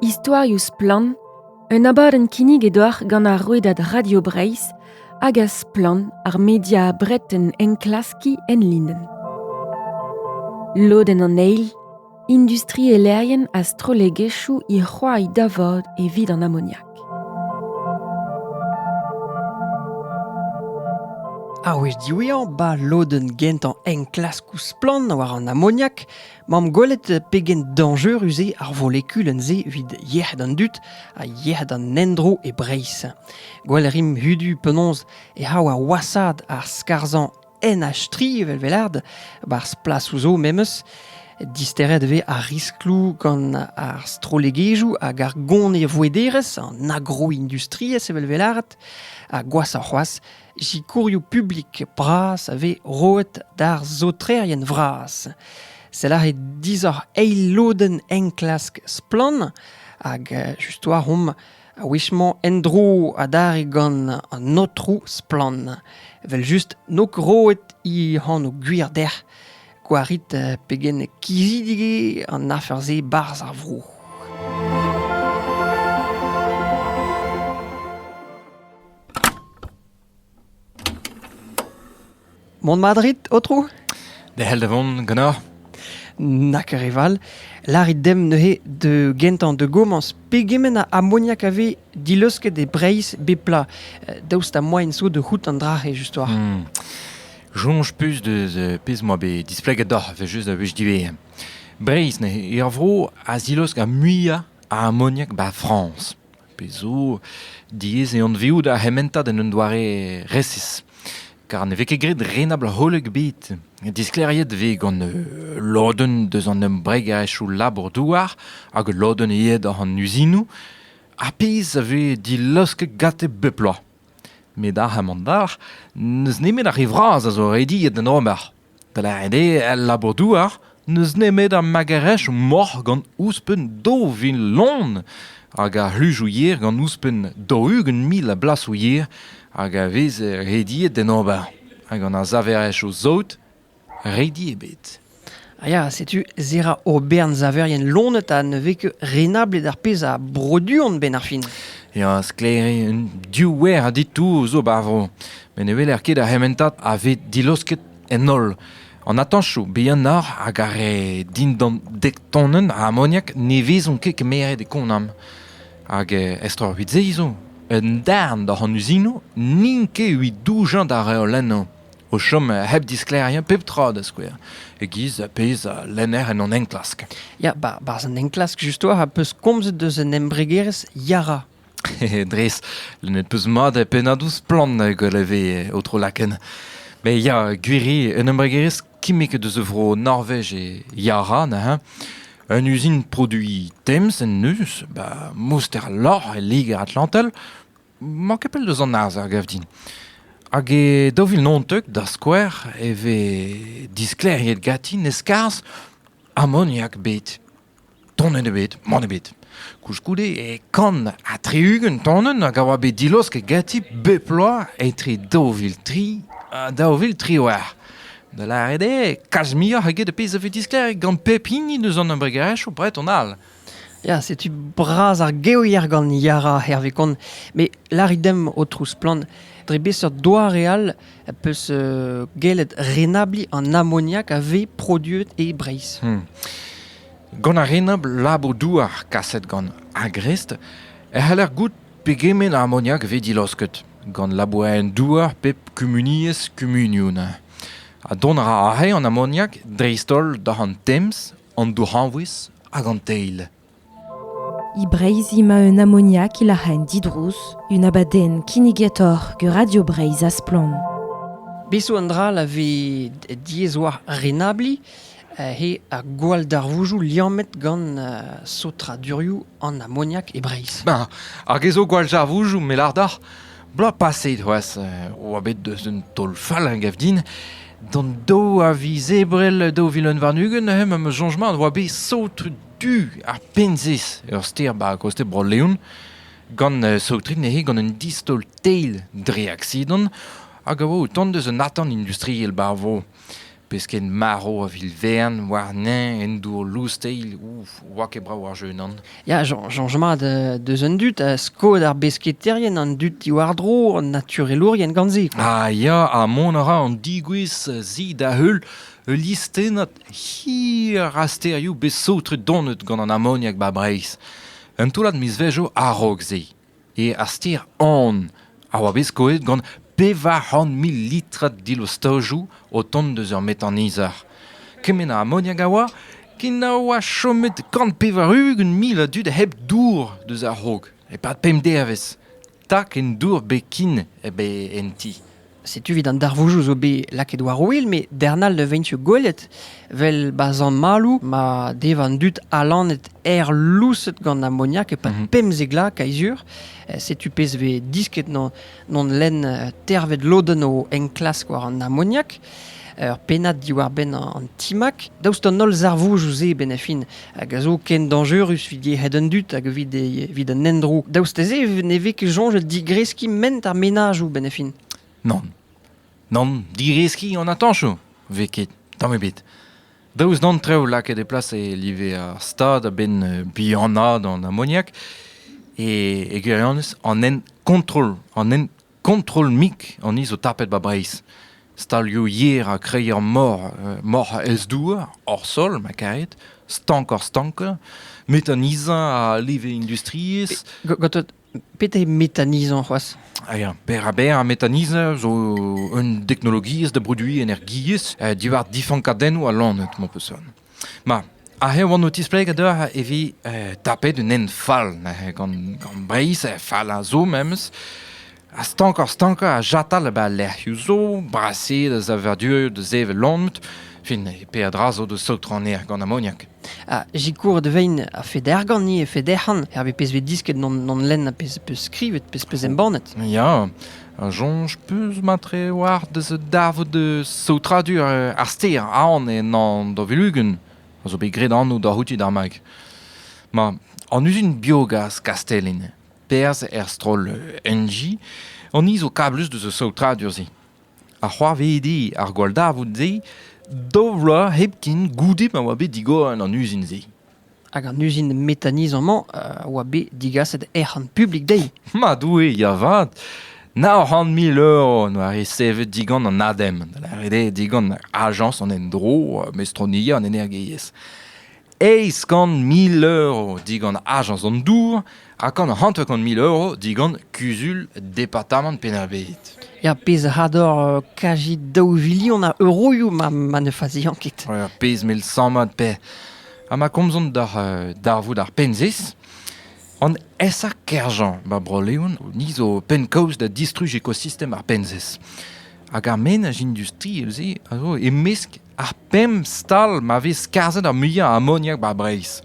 Istorioù splann, un abadenn kinnig e-doar gant ar rouedad Radio Breizh hag a splann ar media breton enklaskiñ enlinenn. Lodenn an eil, industrielerien ha strollegezhioù he c'hoari da vod evit an amoniak. Ar wech diwezhañ, 'ba lodenn gentañ enklaskoù splann war an amoniak, 'mamp gwelet pegen dañjerus eo ar volekulenn-se evit yec'hed an dud ha yec'hed an endro e Breizh. Gwell 'rimp hudu penaos e c'hav ar wasad ar skarzhañ en a-stri evel welard, barzh plasoù zo memes, disteret e vez ar riskloù gant ar strollegezhioù hag ar gonevouederezh, an agroindustriezh evel welard, ha gwashoc'h c'hoazh, sikourioù publik bras a vez roet d'ar saotrerien vras. Sell aze disoc'h eil lodenn enklask Splann! hag just war omp A-wech-mañ en-dro adarre gant an aotrou Splann. Evel-just, n'eo ket roet he anv gwir dec'h. Gwarit pegen kizidik eo an afer-se 'barzh ar vro. Mont Madrid, Aotrou? Derc'hel da vont ganeoc'h. Na ket re val. Larit demp neuze de gentañ de gomañs pegement a amoniak a vez dileusket e Breizh bep pla euh, daoust ha moaien zo de c'hoût an dra-se just war. Hmm. Soñj pus de de pezh moa bet displeget doc'h vel just a wech diwezhañ. Breizh ne er vro a zilosk ar muiañ a amoniak ba Frañs. pe zo diaes eo anveout ar c'hementad en un doare resis. Kar ne vez ket graet renabl-holl ebet. Disklêriet vez gant euh, lodenn deus an embregaezhioù labour-douar hag lodenn aet oc'h an uzinoù, ar pezh a vez dilaosket gante bep bloaz. Met ar c'hamandar, n'eus nemet ar re vras a zo rediet d'en ober. Dlec'het eo el labour-douar n'eus nemet ar magerezh moc'h gant ouzhpenn daou vil lon hag ar c'hluzoù yer gant ouzhpenn daou-ugent mil a blasoù yer hag a vez rediet d'en ober. Ha gant ar saverezhioù saout redi ebet. Ah ya, setu Zera Aubern, saverien lonet ha ne vez ket renablet ar pezh a broduont 'benn ar fin. Ya, sklaer eo, un div wer a ditour zo 'ba ar vro. met ne weler ket ar c'hementad a vez dilaosket en holl. An atañchoù bihanoc'h hag ar re dindan dek tonenn a amoniak ne vezont ket kemeret e Konam. Hag eh, estreñvit-se zo, un darn doc'h an uzinoù n'int ket evit doujañ d'ar reolennoù o chom hep disklêriañ pep tra da skouer, e-giz pezh a lenner en hon enklask. Ya, barzh an enklask, justoa, a peus komzet deus un embregerezh Yara. Dres, lennet peus mat pennadoù splann gant e vez o tro-laken. Mais ya, gwiri, un embregerezh kimmek deus a vro Norvej e Yara neuze. Un usine produit Thames en neus, ba mouster lorc'h e Liger-Atlantel, mañ ket pell deus an arz ar gav din. Hag e daou vil naontek, da skouer, e vez disklêriet ganti ne skarzh amoniak bet. Tonenn ebet, mann ebet. Koulskoude e kant ha tri-ugent tonenn hag a oa bet dilosket ganti bep bloaz etre daou vil tri ha daou vil triwec'h. Da lâret eo, kalz muioc'h eget ar pezh a vez disklêriet gant pep hini eus an embregerezhioù breton all. Ya, setu bras ar gevier gant Yara, hervez kont. Met lârit demp, Aotrou Splann, dre beseurt doare all peus gellet renabliñ an amoniak a vez produet e Breizh. Hmm. Gant ar renabl labour-douar kaset gant Agrest e c'haller goût pegement a amoniak vez dilaosket gant labourerien-douar pep kumuniezh kumunioun. Ha dont a ra aze an amoniak dreist-holl da an Tems, an dourc'hañvouez hag an teil. E Breizh emañ un amoniak e lac'haen didrouz, un abadenn kinnigetoc'h gant Radio Breizh ha Splann. Besoù an dra la vez diaes war renabliñ eo ar gwalldarvouzoù liammet gant sotradurioù an amoniak e Breizh. Ben, hag ez zo gwalldarvouzoù melardac'h bloaz paset c'hoazh oa bet deus un taol fall a gav din d'an daou a viz ebrel daou vil un warn-ugent neuze ma soñjement oa bet sot tu ar Penzez, ur stêr 'ba kostez Bro-Leon, gant uh, saotret neuze gant un distaol teil dre aksidant hag a oa o tont deus un atant industriel 'ba ar vro. Pesked marv a vil vern warnañ en dour lous-teil, ouf, oa ket brav ar jeu nan. Ya, soñj mat uh, deus an dud, ha skod ar besketaerien, an dud diwar-dro, an naturelourien gant se. Ah ya, ha mont a ra an digouezh zi da heul ul listennad Hir a stêrioù bet saotret donet gant an amoniak 'ba Breizh. Un toullad mizvezhioù a-raok-se eo ar stêr An a oa bet skoet gant pevar c'hant mil litrad dilostajoù o tont deus ur metanizher. Kement a amoniak a oa ken a oa chomet kant pevar-ugent mil a dud hep dour deus a-raok, e-pad pemp devezh. Tak en dour bekin eo en ti. Setu evit an darvoujoù zo bet lakaet war ouel, met darn all ne veint gwelet. Vel ba zan ma dev an dud alanet er lousset gant amoniak epad mhm. pemzegla kaizur. Eh, setu pezh vez disket non, non len eh, tervet loden o enklask war an amoniak. ur pennad diwar-benn an timag. Daoust d'an holl zarvoudoù-se, benn-a-fin, hag a zo ken dañjerus evit yec'hed an dud hag evit, evit an endro, daoust dezhe ne vez ket soñjet digreskiñ ment ar menajoù, benn-a-fin. Nann. Nann, digreskiñ an atañsoù vez ket, tamm ebet. Daoust d'an trev lakaet e plas e live ar stad a-benn bihanaat an amoniak, e, e gwirionez, an hent kontrol, an hent Kontroll-mik an ni zo tapet 'ba Breizh. Stalioù yer ha kreier mor, euh, moc'h ez-douar, hor sol, ma karet, stank-hor-stankañ, méthanisant ha leve industriezh. Gatot, petra méthanisant c'hoazh? Ah ya, berr-ha-berr ha méthanisant zo un deknologiezh da broduiñ energiezh euh, diwar difankadennoù ha lanet, mon peusson. Ma, aze e oan o tispleg deoc'h e vi eh, tapet un hent fall neuze gant, gant Breizh, eh, fall a zo memes. Ha stankoc'h-stankañ a jatal ba lec'hioù zo, brasaet a zavadurioù da sevel lomet, fin e peadra zo da saotronner gant amoniak. Ha jikour de vein a feder gant-ni e federc'han, er be pezh vez disket non, non lenn a pezh peus skrivet, pezh peus embannet. Ya, a soñj peus matre war deus davet saotradur ar stêr Aon en Davelugen a zo bet graet anv da c'houti d'ar mag. Ma, an uzin biogas Kastellin, perzh er stroll Enji, an ni zo kablus deus ar saotradur-se. Ha c'hoarvedi ar gwalldavout-se daou vloaz hepken goude ma oa bet digor an uzin-se. Hag an uzin metanizañ-mañ a oa bet digaset ec'hon publik dezhi. Ma Doue, ya 'vat! Nav c'hant mil euro en doa resevet digant an ADEM, da lâret eo digant Ajañs an Endro, Mestroniezh an Energiezh. Eizh kant mil euro digant Ajañs an Dour, Ha gant hanter-kant mil euro digant kuzul departamant Penn-ar-Bed. Ya, pezh a ador euh, kaji daou vilion a euroioù ma, ma ne faziañ ket. Ja, pezh mel sammad pe. Ha ma komzont d'ar euh, darvoud ar penzis, an esa kerjañ ba Bro-Leon ni zo penn-kaoz da distruj ekosistem ar penzis. Hag ar menaj industri, euze, a zo e-mesk Ar pemp stal ma vez skarzhet ar muiañ a amoniak 'bar Breizh.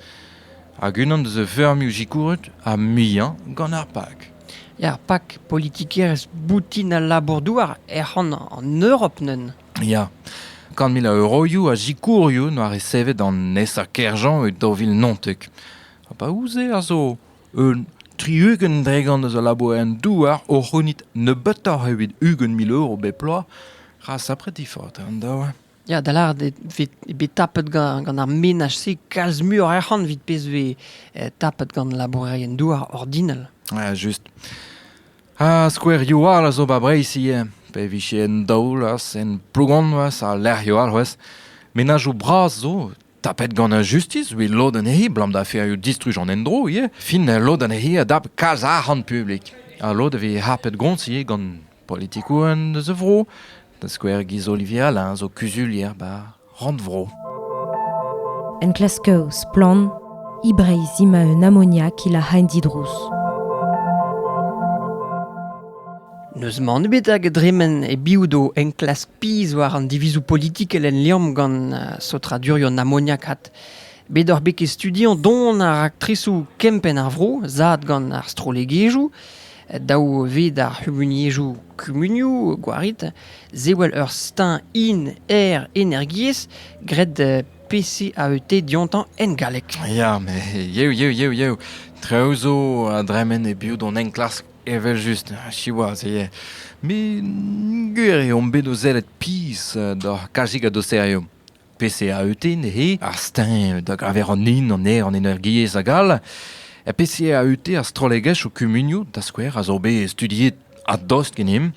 Hag unan deus a feurmioù sikouret ar muiañ gant ar PAK. Er PAK, politikerezh boutin al labour-douar ec'hon an Europ neuze. Ya. Kant mil a euroioù a sikourioù 'noa resevet an nesañ Kerjean e daou vil naontek. Ha pa ouzh-se a zo Un tri-ugent dregont eus al labourioù-douar o c'hounit nebeutoc'h evit ugent mil euro bep bloaz ra sapret difaot eo an daou. Ya, da lâret eo bet tapet gant, gant ar menaj-se kalz muioc'h arc'hant evit pezh vez eh, tapet gant labourerien-douar ordinal. Ja, just. Ha skouerioù all a zo ba Breizh ivez, pe vije en daol, en Plogonvas, al lec'hioù all c'hwez. Menajoù bras zo Tapet gant ar justis evit lod anezhi, abalamour da distruj an endro ivez, fin lod anezhi a dap kalz arc'hant publik. Ha lod a vez harpet gont ivez gant politikourien eus a vro, da skouer Guy Olivier Alain zo kuzulier bar Rannvro. Enklasker splann, e Breizh ima un amoniak ila haen didrouz. N'eus mann ebet hag a dremen e-biou d'o enklask pizh war an divizoù politikel en Liamm gant saotradurioù amoniakat. Bet oc'h bet ket studiañ don ar raktresoù kempenn ar vro zad gant ar strollegezhioù, daou ved ar c'humuniezhoù kumunioù gwarit, sewell ur steuñv in-aer energiezh graet PCAET diontañ en galleg. Ya, met yev, yev, yev, yev. Traoù zo a dremen e-biou d'hon enklask Evel-just, siwazh eo. Met gwir eo on bet o sellet pizh doc'h kalzik a douseriom. PCAUT neuze, ar steuñv da geñver an hin, an aer, an energiezh hag all. E PCAUT ar strollegezh ho kumunioù, da skouer, a zo bet studiet a-dost ganemp.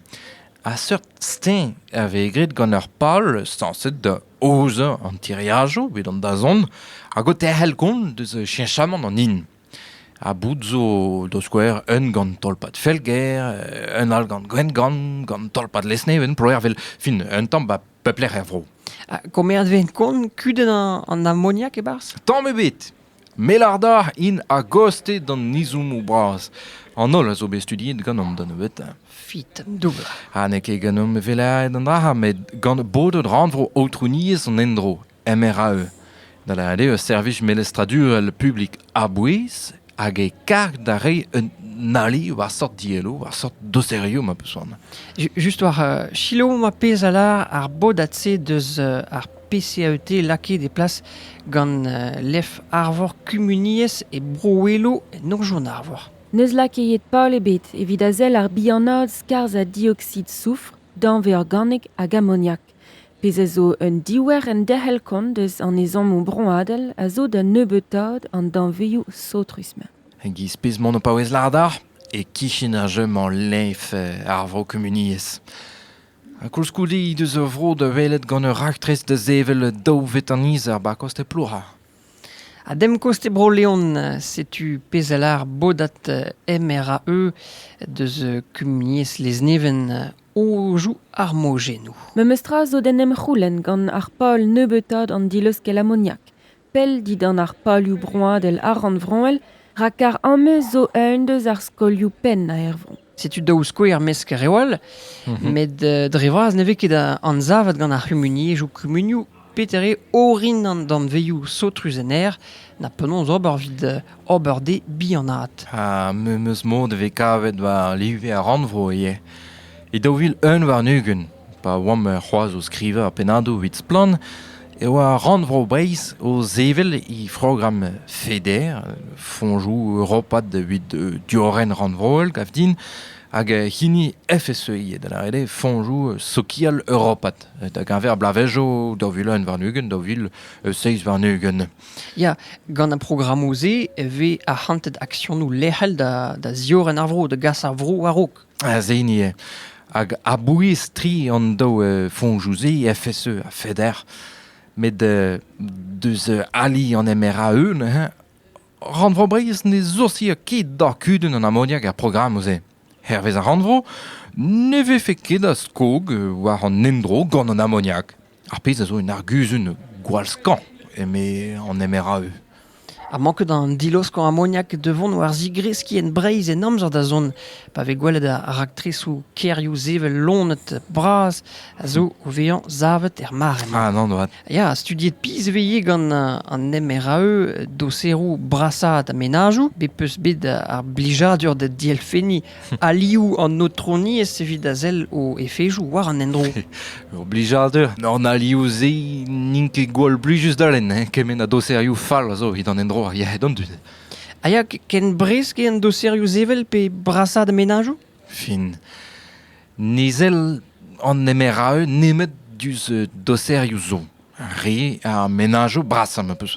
A seurt steuñv a vez graet gant ur pal sañset da aozañ an tiriajoù evit an dazont hag o terc'hel kont deus cheñchamant an hin. Ha boud zo da skouer un gant tolpad Felger, un all gant Gwengamp, gant tolpad Lesneven, Ploer, vel fin un tamm 'ba pep lec'h er vro. Ha komerzh ven kont kudenn an amoniak e-barzh? Tamm ebet! Melarda int a-goste d'an izoumoù bras. An holl a zo bet studiet ganeomp da nebeutañ. Fit, doubl. Ha n'eo ket ganeomp evelaet an dra-se, met gant bodet rannvro aotrouniezh an endro MRAE, da lâret eo ur servij melestradurel publik a-bouez hag e karg da reiñ un ali war seurt dielloù, war seurt doserioù ma peus c'hoant. Ju- Just war euh, selaou ma pezh a lâr ar bodad-se deus euh, ar PCAET lakaet e plas gant euh, lef Arvor Kumuniezh e Bro-Welo en Norzhion Arvor. N'eus lakaet pal ebet evit a sell ar bihanaat skarzh ha dioxyde soufr, danvez organek hag amoniak. Pezh a zo un diouer enderc'hel-kont eus an ezhommoù broadel a zo da nebeutaat an danvezioù saotrus-mañ. E-giz pezh-mañ on o paouez lâret e-kichen ar jeu-mañ leñv ar vro-kumuniezh. Ha koulskoude he deus ur vro da welet gant ur raktres da sevel daou vetanizer 'ba koste Plouha. A-dem-kost e Bro-Leon, setu pezh a lâr bodad MRAE deus kumuniezh Lezneven Ouzh ar mojennoù. Memes tra zo d'en em c'houlenn gant ar pal nebeutaat an dileuskel amoniak, pell dindan ar palioù broadel ha rannvroel, rakar ameuz zo eun deus ar skolioù penn aervron. Setu daou skouer mesk reol, met dre vras ne vez ket anzavet gant ar c'humuniezhioù kumunioù Peter eo orin an danvezioù saotrus en aer, na penaos ober evit ober dezhe bihanaat. Ha me 'm eus mod e vez kavet war live ar rannvro ivez. E daou vil un warn-ugent, pa oamp c'hoazh o skrivañ pennadoù evit Splann! e oa Rannvro Breizh o sevel he programm FEDER, Fonjoù europat evit diorren rannvroel, gav din, hag hini FSEI, da lâret eo Fonjoù sokial europat. da geñver bloavezhioù daou vil un warn-ugent, daou vil seizh warn-ugent. Ya, gant ar programmoù-se e vez arc'hantet aksionoù lec'hel da, da ziorren ar vro, da gas ar vro war-raok. Az hini eo. Hag a-bouez tri an daou uh, foñjoù-se, FSE ha FEDER, met uh, deus ali an MRAE, Rannvro Breizh ne soursia ket d'ar kudenn an amoniak er programmoù-se. Hervez ar rannvro ne vefe ket a skog war an endro gant an amoniak, ar pezh a zo un arguzun gwall-skañv, eme an MRAE. Ha manket an diloskañ amoniak da vont war zigreskiñ en Breizh en amzer da zont, pa vez gwelet ar raktresoù kêrioù sevel lonet bras a zo o vezañ savet er mare-mañ. Ah non, Ya, studiet pizh 'veze gant an MRAE doseroù brasaat mennajoù bet 'peus bet ar blijadur da dielfenniñ alioù an aotroniezh evit a sell o efezoù war an endro. Ur blijadur. An alioù-se n'int ket gwall blijus da lenn, hein? kement a doserioù fall a zo evit an endro ar yec'hed an dud. A ya ken bresk eo an doserioù sevel pe brasaat mennajoù? fin. Nizell an nemer a eu nemet diouzh euh, doserioù zo. Re ar menajoù brasañ ma peus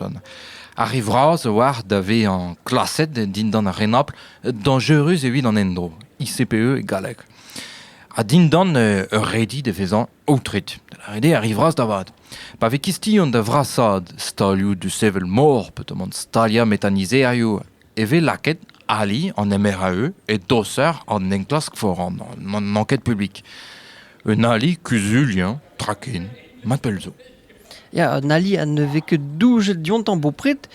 Ar re vras a oar da vezañ klaset dindan ar renabl dañjerus evit an endro, ICPE e galleg. Ha dindan euh, ur redi da vezañ aotret. Da redi ar re vras da vat. Pa vez kistion da vrasaat stalioù du sevel mor, pe tomant staliañ metanizerioù e vez lakaet ali an MRAE e doser an enklask foran n'an enquête publique. Un ali kuzulien tra ken, ma pell zo. Ya, un ali à ne fait que doujet diontan bopret,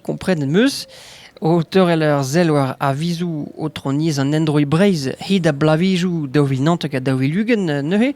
comprennent meus, auteur e leur zelwer a vizou niz an endroi breiz hid a blavijou daou vil nantek a daou vil ugent neuze,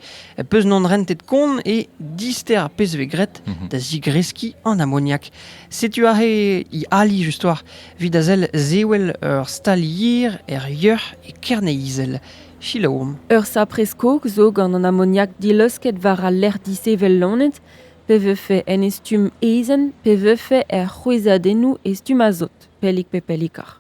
peus non rentet kont e dister ar pez ve gret mhm. da zigreski an amoniak. Setu aze he ali justoc'h evit a sell zewel ur stalier er yeuc'h e Kerne-Izel. Selaouomp. Ur sapre-skog zo gant an amoniak dileusket war al lec'h dishevel lonet, pe vefe en e stumm ezen, pe vefe er c'hwezhadennoù e stumm azot, pellik pe pellikoc'h.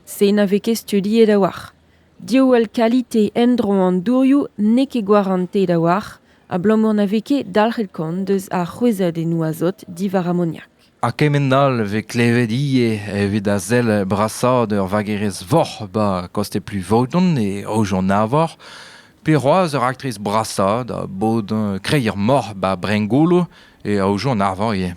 Se na vez ket studiet a-walc'h. Diouall kalite endro an dourioù n'eo ket gwarantet a-walc'h abalamour na vez ket dalc'het kont eus ar c'hwezhadennoù azot diwar amoniak. Ha kement-all e vez klevet ivez evit a sell brasaat ur vagerez voc'h 'ba Kosteplu-Vaodon e Aojon-Arvor, pe c'hoazh ur aktriz brasaat a bod kreier-moc'h 'ba Brengolo e aozo an arvar ivez.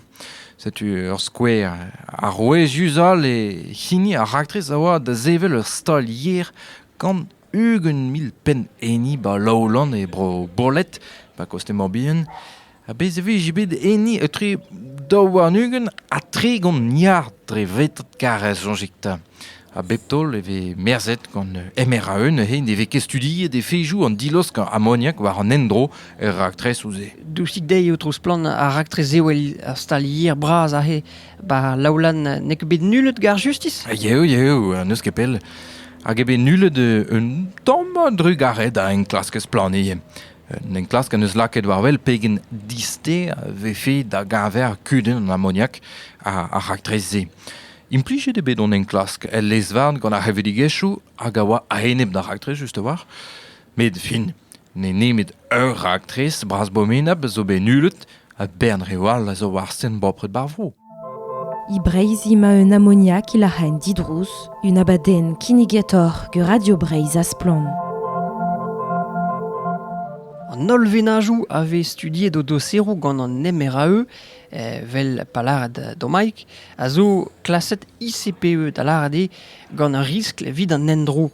Setu ur skouer arouezius all e hini ar raktres a oa da sevel ur stalier gant ugent mil penn enni ba Lowland e bro Bolett, ba Kostez-Morbihan. Ha bez e vije bet enni etre daou warn-ugent ha tregont milliard dre vetad karrez, soñjit 'ta. A bep taol e vez merzhet gant MRAE neuze ne vez ket studiet efezoù an dilosk amoniak war an endro er raktresoù-se. Dousik dezhi eo tro splann ar raktres ewel ar stal yer bras aze. Ba Laolan n'eo ket bet nullet gar justis? Yeo, yeo, n'eus ket pell. Hag eo bet nullet un tamm drugaret a enklask splannier. Un enklask en eus lakaet war wel pegen diste vefe da geñver kudenn an amoniak ar raktres-se. Implijet eo bet hon enklask el lez-varn gant ar c'hevredigezhioù hag a oa a-enep d'ar raktres just a-walc'h. Met fin, n'eo nemet ur raktres bras bomenab zo bet nullet ha bern reoù all a zo war sten bopred bar vro. E Breizh ima un amoniak il a ren didrouz, un abadenn kinnigator gur Radio Breizh a splann. An holl venajoù a vez studiet o doseroù gant an MRAE Evel pa lâret Domaig, a zo klaset ICPE da lâret eo gant ur riskl evit an endro.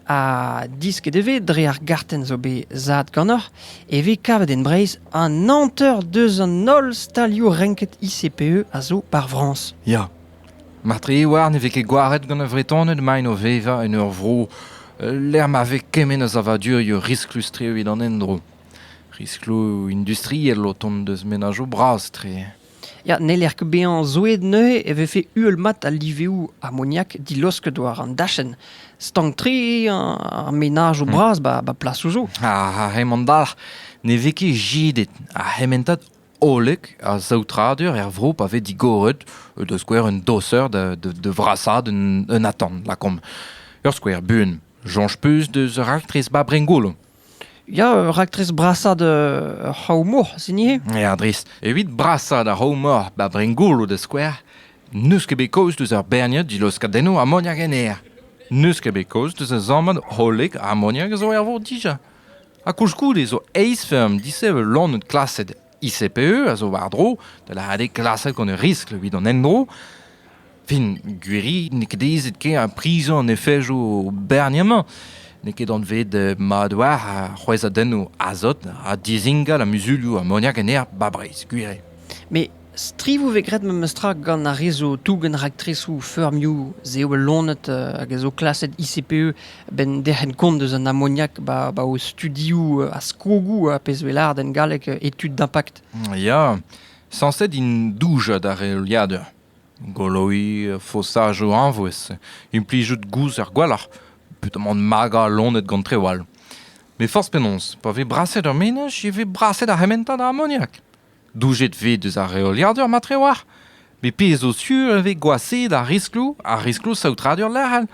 Ha disket e vez dre ar gartenn zo bet zad ganeoc'h e vez kavet en Breizh an hanter deus an holl stalioù renket ICPE a zo par Frañs. Ya. Martre Iwar ne vez ket gwaret gant ar Vretoned maint o vevañ en ur vro lec'h ma vez kement a savadurioù risklus-tre evit an endro. Riskloù industriel o tont deus menajoù bras-tre. Ya, n'heller ket bezañ zoueet neuze e vefe uhel-mat al liveoù amoniak dilosket war an dachenn. Stank-tre ar menajoù bras ba ba plasoù zo. Ha hemañ dalc'h ne vez ket jidet ar c'hementad hollek a saotradur er vro pa vez digoret da skouer un doser da da da vrasaat un un atant, lakaomp. Ur skouer buan, soñj 'peus deus raktres ba Brengolo? Ya, ur raktres brasañ d'ur c'hraou-mor, sin ivez? Ya, dres. Evit brasañ d'ar c'hraou-mor ba Brengolo da skouer, n'eus ket bet kaoz deus ur berniad dilaoskadennoù amoniak en aer. N'eus ket bet kaoz deus ur sammad hollek amoniak a zo er vor dija. Ha koulskoude zo eizh feurm disheñvel lanet klaset ICPE a zo war-dro da lâret klasek an riskl evit an endro. Fin, gwiri n'eo ket aezet ken ar prizoù an efejoù berniemañ. N'eo ket anvet eh, mat war ar c'hwezhadennoù azot ha dizingal a muzulioù amoniak en aer 'ba Breizh, gwir Mais strivoù vez graet memestra gant ar re zo tougen raktresoù feurmioù, se eo bet lonet uh, hag a zo klaset ICPE a-benn derc'hent kont eus an amoniak 'ba o studioù a skogoù a pezh 'vez lâret en galleg études d'impact. Ya, sañset int doujañ d'ar reoliadur. Goloiñ fosajoù añvouez, implijout gouz er gwalc'h, petamant magañ loened gant treoù all. Met forzh penaos, pa vez braset ur menaj e vez braset ar c'hementad a amoniak. Doujet 'vez deus ar reoliadur matre oar met pezh zo sur e vez gwashaet ar riskloù ar riskloù saotradur lec'hel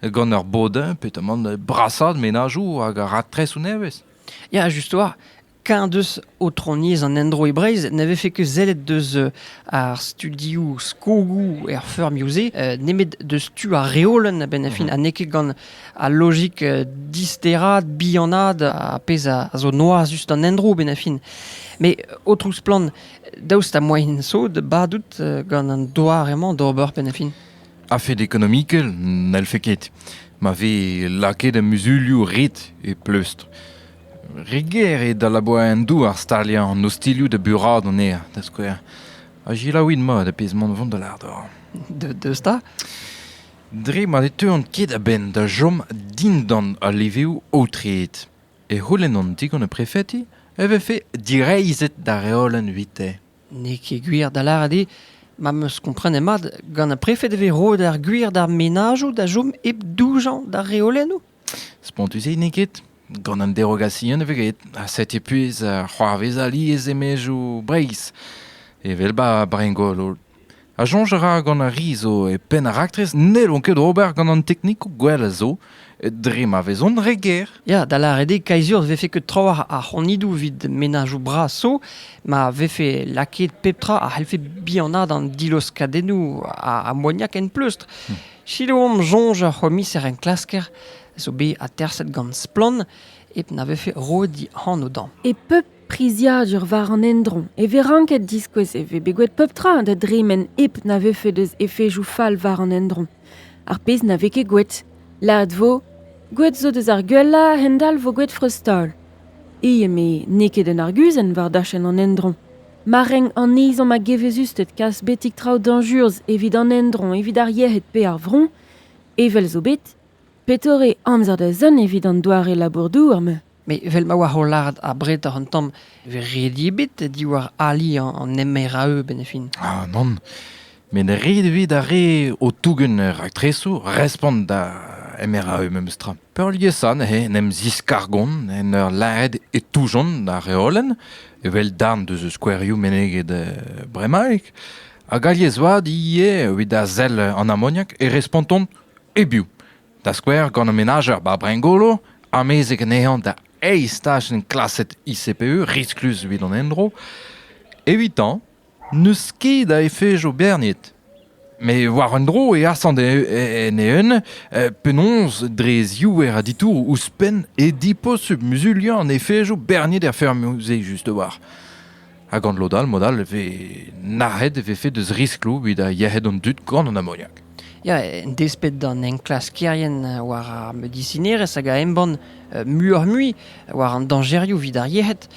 gant ur bodin pe tamant brasaat menajoù hag raktresoù nevez. Ya, just oar. Keñ deus aotroniezh an endro e Breizh ne vefe ket sellet deus ar studioù skogoù er feurmioù-se nemet deus tu ar reolenn a-benn ar fin ha n'eo ket gant Al lojik disteraat, bihanaat, ar pezh a zo noazus d'an endro benn a fin. Met, o splann, daoust ha moaien sod badout gant an doar emañ d'ober benn a fin? A-fed ekonomikel, n'hellfe ket. Ma vez lakaet muzulioù ret e pleustr. Re ger eo da labour en douar staliañ an ostilhoù da buraat anezhañ, da skouer. Ha gelaouit mat ar pezh mont vont da lardor. Deus da? Dre ma ne teuont ket a-benn da chom dindan al levrioù aotreet e c'houlennont digant ar prefeti e vefe direizhet da reolenn evite. N'eo ket gwir da lâret eo ma 'm eus komprenet mat, gant ar prefed e vez roet ar gwir d'ar menajoù da chom hep doujañ d'ar reolennoù. Spontus-se n'eo ket. Gant an derogasion e vez graet. Ha setu puez uh, c'hoarvez alies e-maezioù Breizh, evel ba Brengol. Ha soñj a ra gant ar ri zo e penn ar raktres n'hellont ket ober gant an teknikoù gwell a zo dre ma vezont re ger. Ya, da lâret eo kaizur vefe ket trawalc'h ar c'honidoù evit menajoù bras zo ma vefe lakaet pep tra a c'hellfe bihanaat an diloskadennoù ammoniak en pleustr. Hmm. Sikour omp soñj ar c'homiser-enklasker a zo bet aterset gant Splann hep na vefe roet he anv dezhañ. E pep priziadur war an endro e vez ranket diskouez e vez bet gwet pep tra da dremen hep na vefe deus efejoù fall war an endro. Ar pezh na vez ket gwet. Lâret vo, gwet zo deus ar gwellañ a-hend-all vo gwet freuztaol. E eme n'eo ket un arguzenn war dachenn an endro. Ma renk an izom a geveuzusted kas betek traoù dañjurzh evit an endroñ evit ar yec'hed pe ar vro, evel zo bet, petore amzer da zont evit an doare labour-douar-mañ? Met evel ma oa o lâret abretoc'h an tamm e vez ret ebet diwar ali an MRAE benn fin. Ah nann, met ret evit ar re o tougen raktresoù respont da MRAE memestra. Peurliesañ neuze en em ziskargont en ur lâret e toujont ar reolenn, evel darn deus skouerioù meneget bremaik, hag alies-vat ivez evit a sell an amoniak e respontont e-biou, da skouer gant an menajer Babringolo, amezek anezhañ da eizh tachenn klaset ICPE risklus evit an endro. Evitañ N'eus ket a efejo berniet. Met war un dro e asant en eeun penaos dre ziouer a ditouroù ouzhpenn e diposubl muzuliañ an efejo berniet er feurmoù-se just-war. Ha gant lod all, mod all e vez nac'het e vefe deus riskloù evit yec'hed an dud gant an amoniak. Ya, en desped d'an enklaskerien war ar medisinerezh hag a embann muioc'h-mui war an dañjerioù evit ar yec'hed,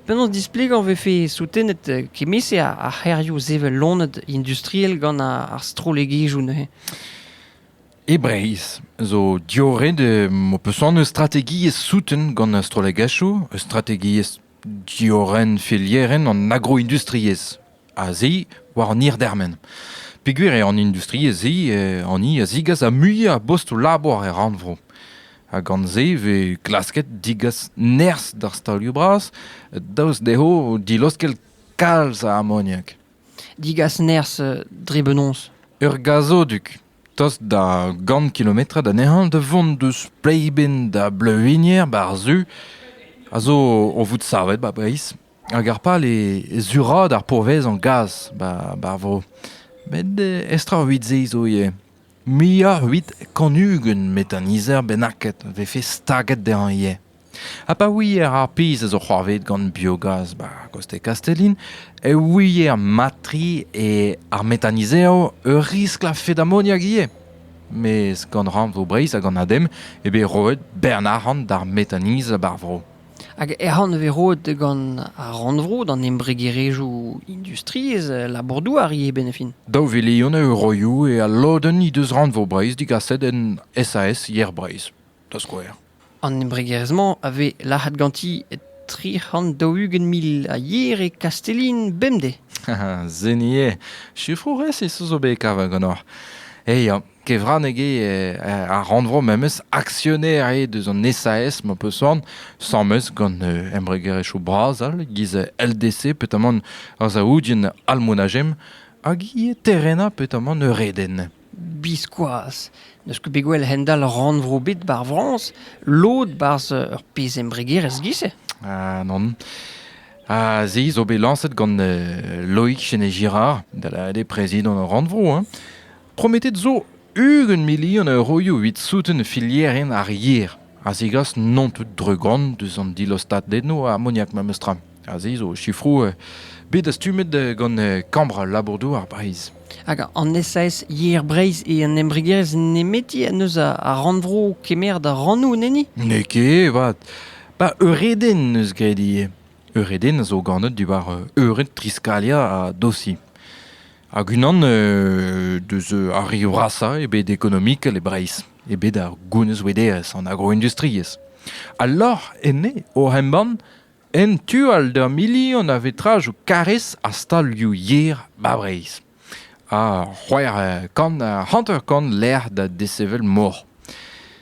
penaos displegañ e vefe soutenet kement-se ar c'hêrioù sevel loened industriel gant ar strollegezhioù neuze? E Breizh zo diorren ho peus anv eus strategiezh souten gant ar strollegezhioù, eus strategiezh Diorren felierenn an agroindustriezh a-se war an hirdermen. Peogwir eo an industriezh-se hani a zigas ar muiañ a bostoù-labour er rannvro. Ha gant-se e vez klasket degas nerzh d'ar stalioù-bras daoust dezho dilaoskel kalz a amoniak. Degas nerzh dre benaos? Ur gazoduc Tost da gant kilometrad anezhañ da vont deus Pleiben da Bleuwigner war-zu a zo o vout savet 'ba Breizh hag ar pal eo suraat ar pourvezañ gaz 'ba ar vro. Met estrawit-se zo ivez. Muioc'h 'vit kant ugent metanizer bennaket 'vefe staget dezhañ ivez. Ha pa ouier ar pezh a zo c'hoarvezet gant biogaz 'ba Coste Castellin e ouier mat-tre eo ar metanizev ur riskl a-fet amoniak ivez. Mes gant rannvro Breizh hag an ADEM eo bet roet bern arc'hant d'ar metaniz bar vro. Hag arc'hant vez roet gant ar rannvro d'an embregerezhioù industriezh labour-douar ivez benefin. Daou vilion euroioù eo al lodenn he deus rannvro Breizh digaset en SAS Yer Breizh, da skouer. An embregerezh-mañ a vez lac'het ganti tri c'hant daou-ugent mil a yer e Kastellin bemdez. Seniñ eo. Sifroù resis zo bet kavet ganeoc'h. E ya. Kevraneg eo ar rannvro memes aksioner eo deus an SAS ma peus soan. Sames gant embregerezhioù bras all giz LDC petamant ar Saoudien Almonajem hag ivez Terrena petamant Eureden. Biskoazh n'eus ket bet gwell a-hend-all rannvro ebet bar Frañs lod 'barzh ur pezh embregerezh giz-se. Ah non. Ha se zo bet lañset gant Loïc Chenet-Girard, da lâret eo prezidant ar rannvro. Hein. Prometet zo ugent milion euroioù evit souten filierien ar yer a zegas non tout drugan deus an dilostaded-no ammoniak memes tra. Aze zo sifroù bet dastumet gant Kambr labour-douar Breizh. Hag an SAS Yer Breizh e un embregerezh nemeti en deus ar rannvro kemeret ar rannoù, neni N'eo ket, vat. Ba Eureden neus graet ivez. Eureden a zo ganet diwar eured Triskalia ha Dosi. Hag unan deus ar re vrasañ e bet ekonomikel e Breizh, e bet ar gounezvederezh, an agroindustriezh. Alor enne, oc'h embann, En tu all d'ur milion a vetrajoù karrez ha stalioù yer 'ba Breizh. Ha c'hwec'h kant, hanter-kant lec'h da desevel mor.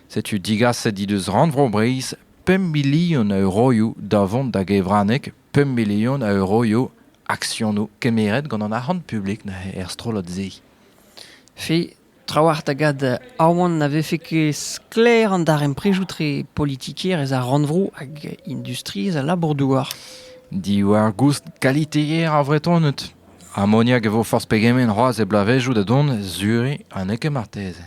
Setu digaset he deus Rannvro Breizh pemp milion a euroioù da vont da gevraneg, pemp milion a euroioù aksionoù kemeret gant an arc'hant publik er strollad-se. Fi, Trawalc'h da gad aoan na vefe ket sklaer an darempredoù-tre politikerezh ar rannvro hag industriezh al labour-douar. Diwar-goust kaliteer ar Vretoned. Amoniak e vo forzh pegement c'hoazh e bloavezhioù da dont, Zurich ha n'eo ket marteze.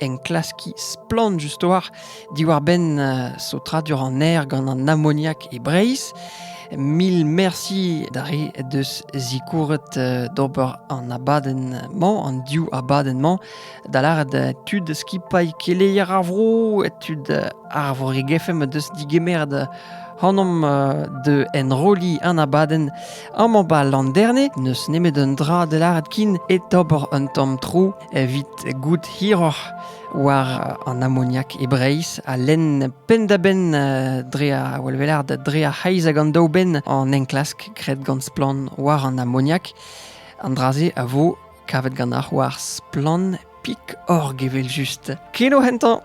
enklaskiñ splann just war diwar-benn saotradur an aer gant an amoniak e Breizh. Mil merci da re deus zikouret d'ober an abadenn-mañ, an div abadenn-mañ, da lâret tud skipailh keleier ar vro, tud ar Vreg-FM deus digemeret hanomp de enrolliñ an abadenn amañ 'ba Landerne. N'eus nemet un dra da lâret kin, e ober un tamm tro evit goût hiroc'h war an amoniak e Breizh ha lenn penn-da-benn euh, dre ar welvelar dre ar c'heiz hag an daou benn an enklask graet gant splann war an amoniak. An dra-se a vo kavet ganeoc'h war splann.org evel just. Kino hentañ!